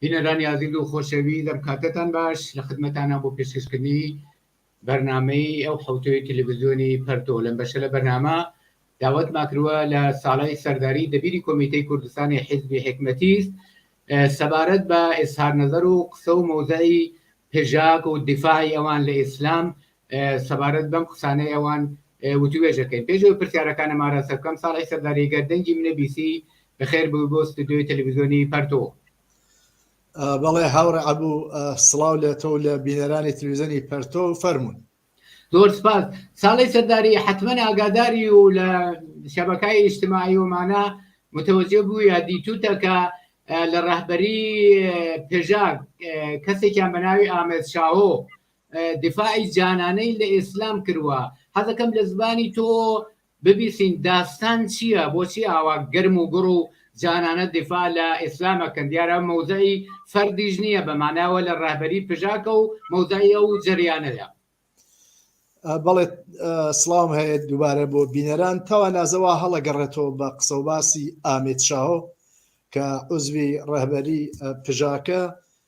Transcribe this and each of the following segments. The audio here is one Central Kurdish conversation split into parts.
بینەرانی ئازیز و خۆشەوی دەم کاتەتان باش لە خدمەتانە بۆ پێشکەشکردنی بەرنمەی ئەو حوتەوەی تەلەڤزیۆنی پەرتۆ لەم بەشە لە بەرنامە داوت ماکرووە لە ساڵی سەرداری دەبیری کۆمیتەی کوردستانی حیزبی حکمەتیست سەبارەت بە ئێسهار نەزەر و قسە و مەوزایی پێژاک و دیفاعی ئەوان لە ئیسلام سەبارەت بەم قسانەی ئەوان وتووێژەکەین. پێش ئەوەی پرسیارەکانم ئاراستە بکەم، ساڵح سەرداری گەر دەنگی منت بیسی، بەخێر بێی بۆ ستۆدیۆی تەلەڤیزیۆنی پەرتۆ. بەڵێ هاوڕێ عەبوو، سڵاو لە تۆ و لە بینەرانی تەلەڤیزیۆنی پەرتۆ، فەرموون. زۆر سپاس. ساڵح سەرداری، حەتمەن ئاگاداری و لە شەبەکای ئیجتماعی ئەمانە متەوەجێ بوویە، دیتووتە کە لە ڕەهبەریی پژاک کەسێکیان بە ناوی ئامێد شاهۆ دفاعی جانانەی لە ئیسلام کروە. حەزەکەم لە زبانی تۆ ببیسین داستان چیە بۆچی ئاوا گەرم و گوڕ و جانانە دفاع لە ئیسلام ئەکەن دیارە مەوزعی فەردیش نیە بە ماناوە لە ڕەهبەری پژاکە و مەوزعی ئەو جەریانەدا. بەڵێ سڵاوم هەیە دووبارە بۆ بینەران تاوا نازەوا هەڵەگەڕێتەوە بە قسە و باسی ئامێت شاهۆ کە عزوی ڕەهبەری پژاکە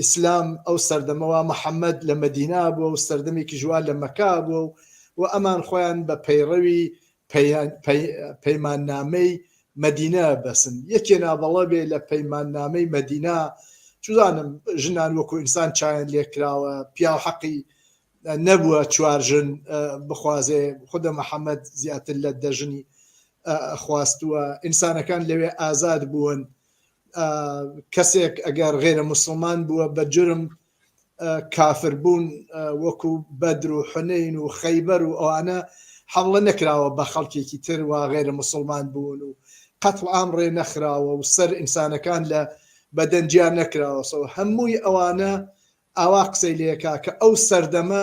ئیسلام ئەو سەردەمەوە محەممەد لە مەدینا بووە و سەردەمێکی ژوا لە مەکا بووە و و ئەمان خۆیان بە پەیڕەوی پەیماننامەی مەدینە بەسن یەکێ ناوەڵە بێ لە پەیماننامەی مەدینا چزانم ژنان وەکو ئینسان چایان لێکراوە پیاو حەقی نەبووە چوار ژن بخوازێ خودە محەممەد زیاتر لە دەژنی خواستووە ئینسانەکان لەوێ ئازاد بوون کەسێک ئەگەر غێرە مسلمان بووە بە جرم کافر بوون وەکو بەدر و حنین و خەیبەر و ئەوانە حملە نەکراوە بە خەڵکێکی تر و غێرە مسلمان بوون و قەتڵ ئام ڕێ نەخراوە و سەر ئینسانەکان لە بەدەنجیان نەکراوەسەوە هەمووی ئەوانە ئاوا قسەی لەکە کە ئەو سەردەمە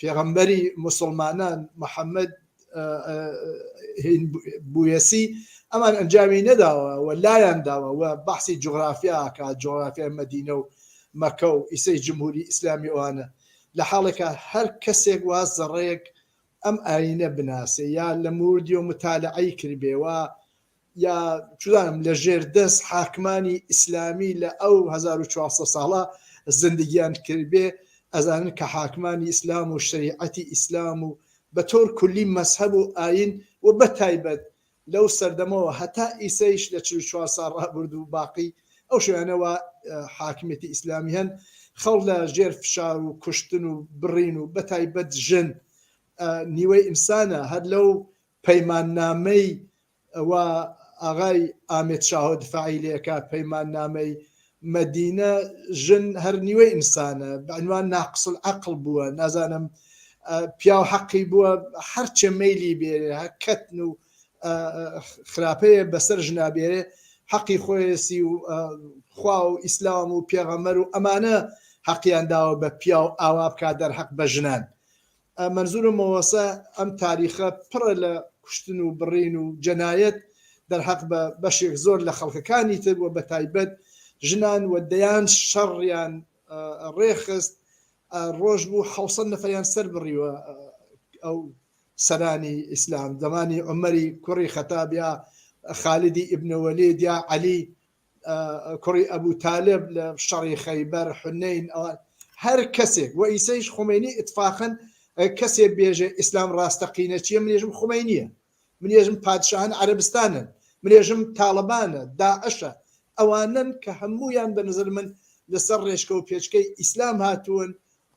پێغەمبەری موسڵمانان محەممەد بویەسی ئەمان ئەنجامی نەداوە و لایان داوە و بەحسی جغرافیاکە جغرافیای مەدینە و مەکە و ئیسەی جمهوری ئیسلامی ئەوانە لە حاڵێکە هەر کەسێک وا زەڕەیەک ئەم ئاینە بناسێ یا لە موردیۆ متالعی کردبێ و یا چزانم لە ژێر دەست حاکمانی ئیسلامی لە ئەو 1400 ساڵە زندگیان کردبێ ئەزانن کە حاکمانی ئیسلام و شریعەتی ئیسلام و بە تۆر کولی مەسهب و ئاین و بە تایبەت لەو سەردەمەوە هەتا ئیسەیش لە چ چوار سا ڕابرد و باقی ئەو شوێنەوە حاکمێتی ئیسلامی هەن خەڵ لە ژێر فشار و کوشتن و بڕین و بە تایبەت ژن نیوەی ئینسانە هەر لەو پەیماننامەی ئەوە ئاغای ئامێد شاهۆ دفاعی لێکا پەیماننامەی مەدینە ژن هەر نیوەی ئینسانە بەعنوان ناقسل عقل بووە نازانم پیاو حەقی بووە هەرچێ مەلی بێرێ کەتن و خراپەیە بەسەر ژنابێرێ حەقی خۆیسی و خوا و ئیسلام و پێغەمەر و ئەمانە حەقیان داوە بە پیاو ئاوا بکات دەرحەق بە ژنان مەنزورە مۆسە ئەم تاریخە پڕە لە کوشتن و بڕین و جەنایەت دەرهەق بە بەشێک زۆر لە خەڵکەکانی تر و بەتایبەت ژنان و دەیان شەڕیان ڕێخست ڕۆژ بوو حوسەن نەفەریان سەر بڕیوە ئەو سەرانی ئیسلام زمانی عمەری کوڕی خەتابیا خالیدی ئبنەوەلێ دیا عەلی کوڕی ئەبوو تالب لە شەڕی خەیبەر حنین ئەوە هەر کەسێک و ئیسەیش خمینی اتفاقن کەسێ بێژێ ئیسلام ڕاستەقینە چیە منێژم خمەی نییە منێژم پادشاهن عربستانن منێژم تاالبانە داعشە ئەوانن کە هەمویان بە نظر من لەسەر ڕێشکە و پێچکەی ئیسلام هاتوون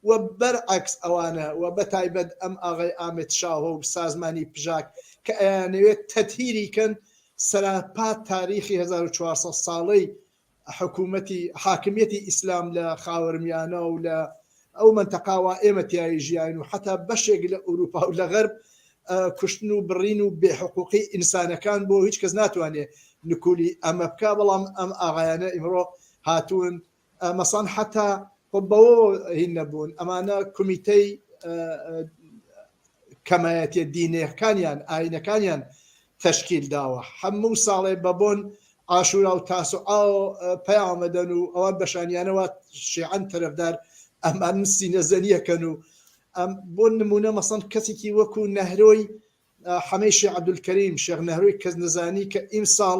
وە بەر عەکس ئەوانە وە بە تایبەت ئەم ئاغای ئامێد شاهۆ و سازمانی پژاک کە ئەیانەوێت تەتهیری کەن سەراپا تاریخی هەزار و چوار سەد ساڵەی حکومەتی حاکمیەتی ئیسلام لە خاوەرمیانە و لە ئەو مەنتەقا وا ئێمە تیایی ژیاین و حەتا بەشێک لە ئوروپا و لە غەرب کوشتن و بڕین و بێ حقوقی ئینسانەکان بۆ هیچ کەس ناتوانێ نکولی ئەمە بکا بەڵام ئەم ئاغایانە ئیمڕۆ هاتوون مەسەڵەن حەتا خۆ بەوەوە هین نەبوون ئەمانە کومیتەی کەمایەتیە دینەکانیان ئاینەکانیان تەشکیل داوە هەموو ساڵێ بە بۆن ئاشورا و تاسو ئاو پەیامەدەن و ئەوان بەشانیانەوە شیعەن تەرەفدار ئەمان سینەزەنیەکەن و ئەم بۆ نمونە مەسەن کەسێکی وەکو نەهرۆی حەمەی شێ عەبدولکەریم شێخ نەهرۆی کەس نەزانی کە ئیمساڵ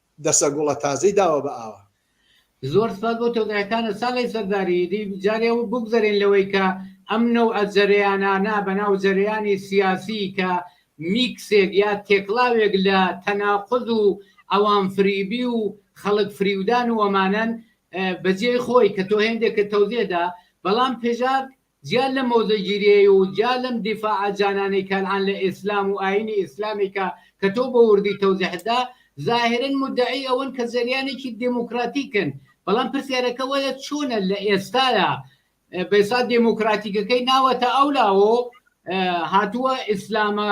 دەسە گوڵە تازەی داوە بە ئاوا. زۆر سپاس بۆ تۆزەیەکانت ساڵەی سەرداری دی جارێ و بوگزەرێن لەوەی کە ئەم نەوعە جەرەیانانە بە ناو جەرەیانی سیاسی کە میکسێک یا تێکڵاوێک لە تەناقوز و عەوام فریبی و خەڵک فریودان و ئەمانەن بە جێی خۆی کە تۆ هێندێکت تۆزێ دا بەڵام پێشاک جیا لەم مۆزەگیریەی و جیا لەم دیفاعە جانانەی کەنعان لە ئیسلام و ئاینی ئیسلامی کە کە تۆ بە وردی تەوزیحت دا، زاهیرەن مودەعی ئەوەن کە جەریانێکی دێمۆکڕاتیکن، بەڵام پرسیارەکە وەیە چۆنە لە ئێستایا بەیسا دێمۆکڕاتیکەکەی ناوەتە ئەو لاوە و هاتووە ئیسلامە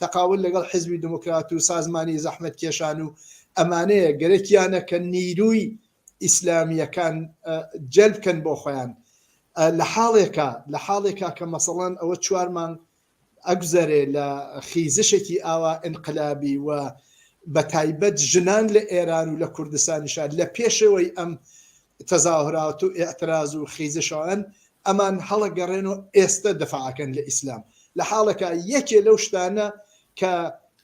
تەقابول لەگەڵ حیزبی دموکرات و سازمانی زەحمەتکێشان و ئەمانەیە گەرەکیانە کە نیروی ئیسلامیەکان جەلب بکەن بۆ خۆیان لە حاڵێکا لە حاڵێکا کە مەسەڵەن ئەوە چوار مانگ ئەگوزەرێ لە خیزشێکی ئاوا ئینقلابی و بە تایبەت ژنان لە ئێران و لە کوردستانیشا لە پێشەوەی ئەم تەزاهورات و ئیعتراز و خیزشان ئەمان هەڵەگەڕێن و ئێستە دەفع ئەکەن لە ئیسلام لە حاڵەکا یەکێ لەو شتانە کە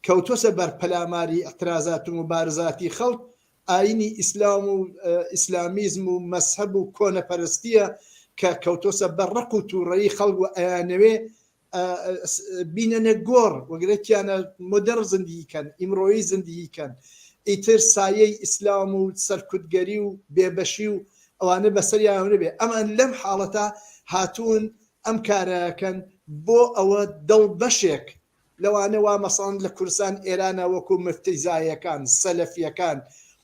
کەوتوەسە بەر پەلاماری ئیعترازات و موبارزاتی خەڵک ئاینی ئیسلام و ئیسلامیزم و مەسهەب و کۆنەپەرستیە کە کەوتوسە بە ڕق و توڕەیی خەڵک و ئەیانەوێ بینەنە گۆڕ وگرە تیانە مۆدڕ زندگی کەن، ئیمڕۆیی زندگی کەن، ئیتر سایەی ئیسلام و سەرکوتگەری و بێبەشی و ئەوانە بەسەریانەوە نەبێ. ئەمان لەم حاڵەتە هاتوون ئەم کارە ئەکەن بۆ ئەوە دڵ بەشێک لەوانە وا مەسەڵەن لە کوردستان ئێرانە وەکوو مفتیزایەکان، سەلەفیەکان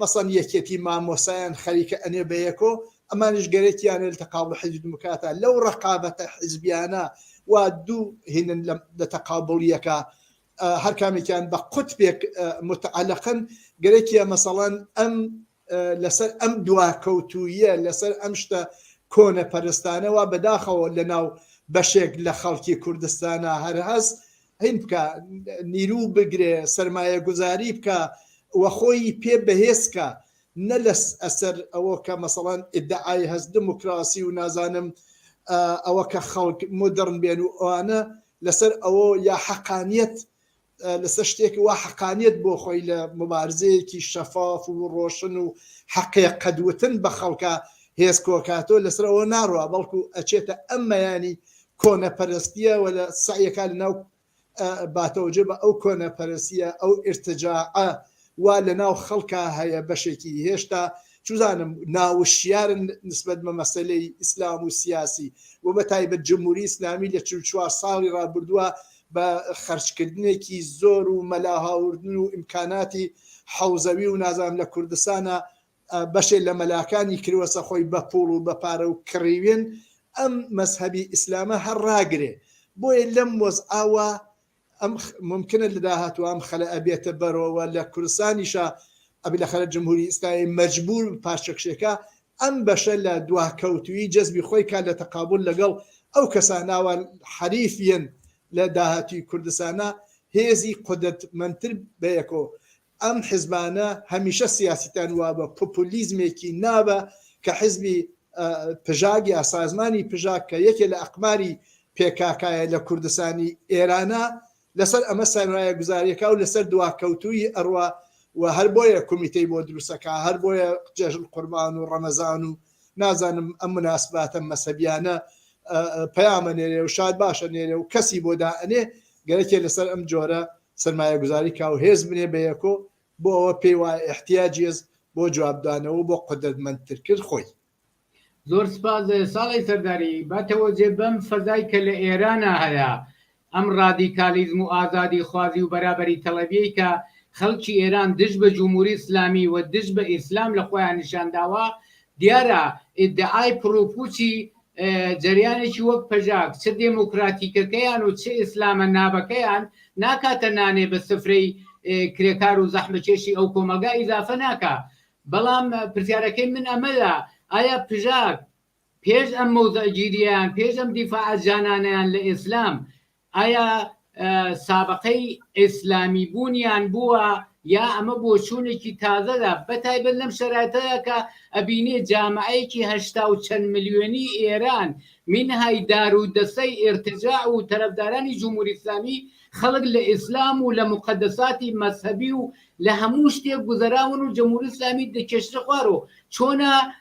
مەسەن یەکێتی مامۆسایان خەریکە ئەنێ بە یەکۆ ئەمانیش گەرەکیانە لە تەقابڵ حیزبی دموکراتا لەو ڕەقابەتە حیزبیانە وا دوو هینن لە تەقابڵیەکا هەر کامێکیان بە قوتبێک متعلقن گەرەکیە مەسەڵەن ئەم لەسەر ئەم دواکەوتویە لەسەر ئەم شتە کۆنە پەرستانەوە بەداخەوە لە ناو بەشێک لە خەڵکی کوردستانە هەر هەست هین بکە نیرو بگرێ سەرمایە گوزاری بکە وە خۆی پێ بەهێزکە نە لە ئەسەر ئەوە کە مەسەڵەن ئیدعای هەست دموکراسی و نازانم ئەوە کە خەڵک مدڕن بێن و ئەوانە لەسەر ئەوە یا حەقانیت لەسەر شتێک وا حەقانیت بۆ خۆی لە مبارزەیەکی شەفاف و ڕۆشن و حەقێ قەدوتن بە خەڵکە هێز کۆکاتۆ لەسەرەوە ناڕوە بەڵکو ئەچێتە ئەمەیانی کۆنەپەرستیە و لە سەعیەکا لەناو باتەوە جێ بە ئەو کۆنەپەرستیە ئەو ئیرتجاعە وا لەناو خەڵکا هەیە بەشێکی هێشتا چوزانم ناوشیارن نسبەت بە مەسەلەی ئیسلام و سیاسی و بە تایبەت جمهوری ئیسلامی لە چل چوار ساڵی ڕابردووە بە خەرجکردنێکی زۆر و مەلا هاوردن و ئیمکاناتی حەوزەوی و نازانم لە کوردستانە بەشێ لە مەلاکانی کروەسە خۆی بە پوڵ و بە پارە و کڕیوێن ئەم مەزهەبی ئیسلامە هەر ڕاگرێ بۆیە لەم وەزعە وا ئەم ممکنە لە داهاتوە ئەم خەلە ئەبێتە بەرۆوە لە کوردستانیشە ئەبێ لە خەلە جمهوری ئیسلامی مەجبور پارچەکشێکە ئەم بەشە لە دواکەوتوی جەزبی خۆی کا لە تەقابول لەگەڵ ئەو کەساناوە حەریفیەن لە داهاتوی کوردستانە هێزی قودرەتمەنتر بەیەکۆ ئەم حزبانە هەمیشە سیاسیتان وابە پوپولیزمێکی نابە کە حزبی پژاک یا سازمانی پژاک کە یەکێ لە ئەقماری پێکاکایە لە کوردستانی ئێرانە لەسەر ئەمە سەرمایە گوزاریەکە و لەسەر دواکەوتووی ئەڕوا و هەر بۆیە کومیتەی بۆ دروستەکە هەر بۆیە جێژن قوربان و ڕەمەزان و نازانم ئەم مناسباتە مەسەبیانە پەیامە نێرێ و شاد باشە نێرێ و کەسی بۆ دائەنێ گەرەکێ لەسەر ئەم جۆرە سەرمایەگوزاری کا و هێز بنێ بە یەکۆ بۆ ئەوە پێی وایە ئیحتیاجی هێز بۆ جوابدانەوە و بۆ قودرەتمەندترکرد خۆی. زۆر سپاس ساڵەی سەرداری. با تەوەجێ بەم فەزای کە لە ئێرانا هەیە، ئەم ڕادیکالیزم و ئازادی خوازی و بەرابەری تەڵەبیەی کە خەڵکی ئێران دژ بە جوموری ئیسلامی و دژ بە ئیسلام لە خۆیان نیشان داوە، دیارە ئیدعای پڕوپوچی جەریانێکی وەک پەژاک چ دێمۆکراتیکەکەیان و چ ئیسلامە نابەکەیان ناکاتە نانێ بە سفرەی کرێکار و زەحمەکێشی ئەو کۆمەڵگا ئیزافە ناکا بەڵام پرسیارەکەی من ئەمەدا ئایا پژاک پێش ئەم مەوزەگیریان پێش ئەم دیفاعە جانانەیان لە ئیسلام ئایا سابەقەی ئێسلامی بوونیان بووە یا ئەمە بۆچوونێکی تازەدا بەتایبەت لەم شەراتەدا کە ئەبینێ جامعەیەکی هەشتا و چەند ملیۆنی ئێران مینهای دار و دەسەی ئێرتجاع و تەرەفدارانی جمهوری ئیسلامی خەڵک لە ئێسلام و لە موقەدەساتی مەزهەبی و لە هەموو شتێک گوزەراون و جمهوری ئیسلامی دەکێشرە خوارەوە چۆنە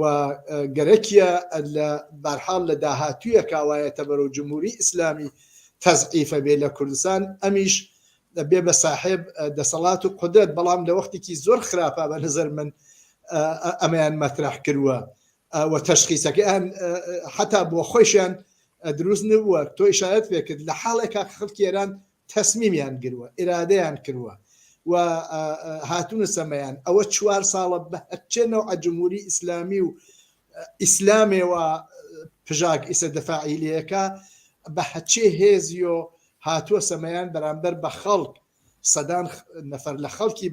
و گەرەکیە لە بەرحاڵ لە داهاتوویە کاوایەتە بەرەو جمهوری ئیسلامی تەزعیفە بێ لە کوردستان ئەمیش بێ بە ساحێب دەسەڵات و قدرەت بەڵام لە وەختێکی زۆر خراپە بە نظر من ئەمەیان مەترح کردوە و تەشخیسەکەیان حتا بۆ خۆشیان دروست نبووە تۆی شایەت پێکرد لە حاڵێکا خەڵکی ئێران تەسمیمیان گروە ئیرادەیان کروە و هاتونە سەمەیان ئەوە چوار ساڵە بە هەرچێ نەوعە جمهوری ئیسلامی و ئیسلامێ و پژاک ئیسە دەفاعیلەکە بە هەچێ هێزیۆ هاتووە سەمەیان بەرامبەر بە خەڵک سەدان نەفەر لە خەڵکی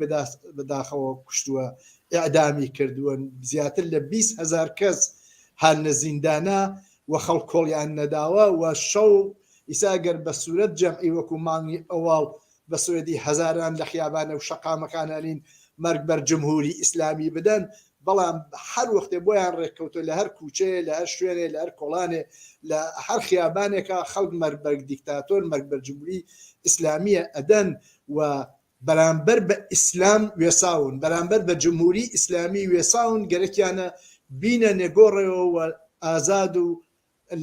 بەداخەوە کوشتووە ئەعدامی کردووە زیاتر لە 20 هزار کەس هەر لە زیندانە و خەڵک کۆڵیان نەداوە و شەو ئیسا گەر بە سورەت جەمعی وەکو مانگی ئەواڵ بە سورەتی هەزاران لە خیابانە و شەقامەکان ئەلین مەرگ بەر جمهوری ئیسلامی بدەن بەڵام هەر وەختێ بۆیان رێککەوتوە لە هەر کوچەیێ لە هەر شوێنێ لە هەر کۆڵانێ لە هەر خیابانێکا خەڵک مەرگ بەر دیکتاتۆر مەرگ بەر جمهوری ئیسلامیە ئەدەن و بەرامبەر بە ئیسلام وێساون بەرامبەر بە جمهوری ئیسلامی وێساون گەرەکیانە بینە نێگۆڕێوە و ئازاد و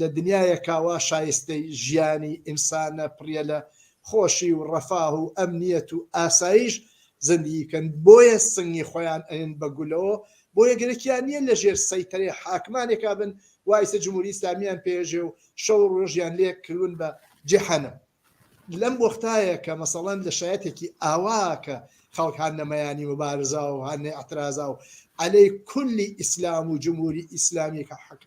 لە دنیایەکا وا شایستەی ژیانی ئینسانە پڕیە لە خۆشی و ڕەفاه و ئەمنیەت و ئاسایش زندگی بکەن بۆیە سنگی خۆیان ئەیەن بە گولەوە بۆیە گەرەکیان نیە لە ژێر سەیتەرەی حاکمانێکا بن وا ئیسە جمهوری ئیسلامیان پێژێ و شەو ڕۆژیان لێ کلون بە جەحەنەم. لەم وەختایە کە مەسەڵەن لە شایەتێکی ئاوا کە خەڵک هان نەمەیانی مبارزا و هان نەعترازا و عەلەی کولی ئیسلام و جمهوری ئیسلامی کە حەق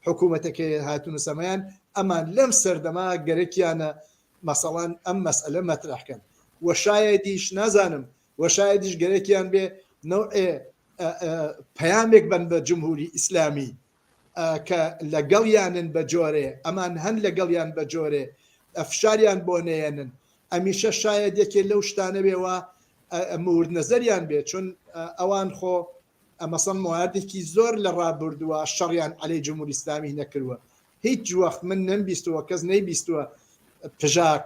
حکوومەتەکە هاتون و سەمایان ئەمان لەم سەردەما گەرەکیانە مەسەڵەن ئەم مەسئلە مەترەحکەن و شایەدیش نازانم و شایەدیش گەرەکیان بێ نەوعێ پەیامێک بن بە جمهوری ئیسلامی کە لەگەڵیانن بەجۆرێ ئەمان هەن لەگەڵیان بەجۆرێ فشاریان بۆ نەیەنن ئەمیشە شایەد یەکێ لەو شتانە بێ وا مورد نەزەریان بێ چون ئەوان خۆ مەسەڵەن مواردێکی زۆر لە ڕابردووە شەڕیان عەلەی جمهوری ئیسلامی نەکردووە هیچ وەخت من نەمبیستووە کەس نەیبیستووە پژاک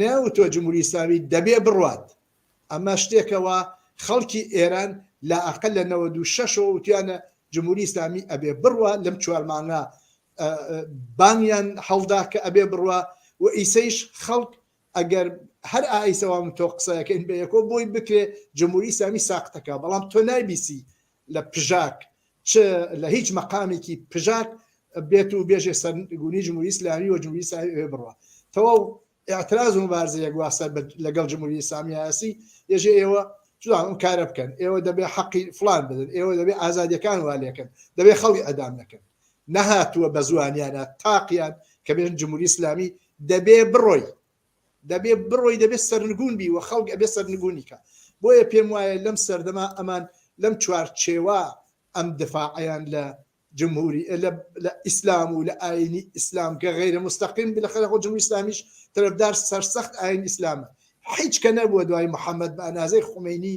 نەیانوتووە جمهوری ئیسلامی دەبێ بڕوات، ئەمە شتێکە وا خەڵکی ئێران لە ئەقەل لە نەوەد و شەش ەوە وتویانە جمهوری ئیسلامی ئەبێ بڕوا، لەم چوار مانگە بانگیان هەڵدا کە ئەبێ بڕوا و ئیسەیش خەڵک ئەگەر هەر ئایسەوام تۆ قسەکەین بە یەکۆ بۆی بکرێ جمهوری ئیسلامی ساقتەکە، بەڵام تۆ نایبیسی لە پژاک چ لە هیچ مەقامێکی پژاک بێت و بێژێ سەرگونی جمهوری ئیسلامی و جمهوری ئیسلامی ئەوێ بڕوا تەواو اعتراض و مبارزە یەکوا سەر لەگەڵ جمهوری ئیسلامی هەیەسی یەژێ ئێوە جوان ئەم کارە بکەن ئێوە دەبێ حەقی فلان بدن ئێوە دەبێ ئازادیەکان وا لێکن دەبێ خەڵی ئەدام نەکەن نەهاتووە بە زوانیانە تاقیان کە بێن جمهوری ئیسلامی دەبێ بڕۆی دەبێ بڕۆی دەبێ سەرنگون بی و خەڵک ئەبێ سەرنگونی کا بۆیە پێم وایە لەم سەردەما ئەمان لەم چوار چێوە ئەم دفاعیان لە جمهوری لە لە ئیسلام و لە ئاینی ئیسلام کە غیرە مستەقیم بلە خەرە خۆ جمهوری ئیسلامیش تەرەفدار سەرسەخت ئاین ئیسلامە حیچ کە نەبووە دوای محەممەد بە ئەنازەی خومەینی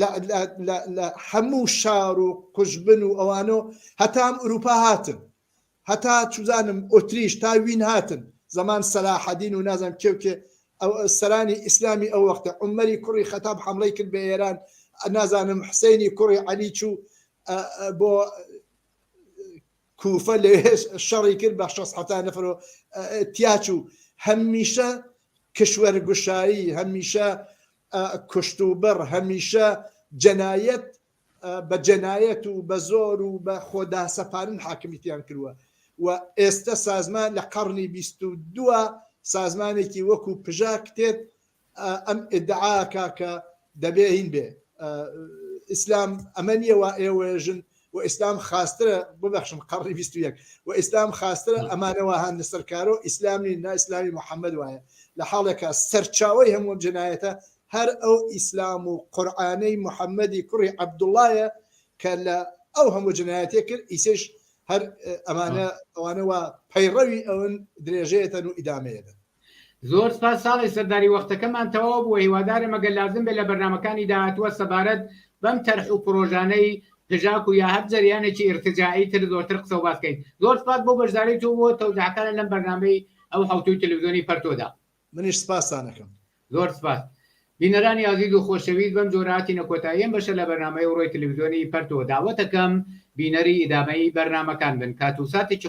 لە لە لە لە حەموو شار و قوژبن و ئەوانۆ هەتا ئەم ئورووپا هاتن هەتا چوزانم ئۆتریش تا وین هاتن زەمان سەلاحەدین و نازانم کێ و کێ ئەو سەرانی ئیسلامی ئەو وەختە عومەری کوڕی خەتاب حەمڵەی کرد بە ئێران نازانم حسێنی کوڕی عەلی چوو بۆ کوفە لەوێش شەڕی کرد بە شەست حەفتا نەفەر و تیا چوو هەمیشە کشوەر گوشایی هەمیشە کوشت و بڕ هەمیشە جەنایەت بە جەنایەت و بە زۆر و بە خۆداسەپارن حاکمیتیان کردووە و ئێستە سازمان لە قەڕنی بیست و دووە سازمانێکی وەکو پژاک تێت ئەم ئیدعا کا کە دەبێ هین بێ ئیسلام ئەمە نییە وا ئێوەژن و ئیسلام خاسترە ببەخشم قڕی بیست یەک و ئیسلام خاسترە ئەمانەوە هاان سەرکارۆ ئیسلامی نا ئیسلامی محەممەد وایە لە حاڵێکە سەرچاوی هەمووم جنایەتە هەر ئەو ئیسلام و قورآانەی محەممەدی کوڕی عەبدوڵایە کە لە ئەو هەموو جنایەتێ کرد ئیسش هەر ئەمانە ئەوانەوە پەیڕەوی ئەون درێژەیەتەن و ئیدامەیەدەن زۆر سپاس ساڵی سەرداری وەختەکەمان تەواو بووە هیوادارم ئەگەر لازم بێت لە بەرنامەکانی داهاتووە سەبارەت بەم تەرح و پرۆژانەی پژاک و یا هەر جەریانێکی ئیرتجاعی تر زۆرتر قسە و باس کەین زۆر سپاس بۆ بەشداری تۆ بۆ تەوزیحەکانت لەم بەرنامەی ئەو حەوتووی تەلەوزیۆنی پەرتۆدا. منیش سپاستان ئەکەم. زۆر سپاس بینەرانی ئازیز و خۆشەویست بەم جۆرە هاتینە کۆتایی ئەم بەشە لە بەرنامەی ئەوڕۆی تەلەوزیۆنی پەرتۆ داوەتەکەم بینەری ئیدامەی بەرنامەکان بن کات و ساتێکی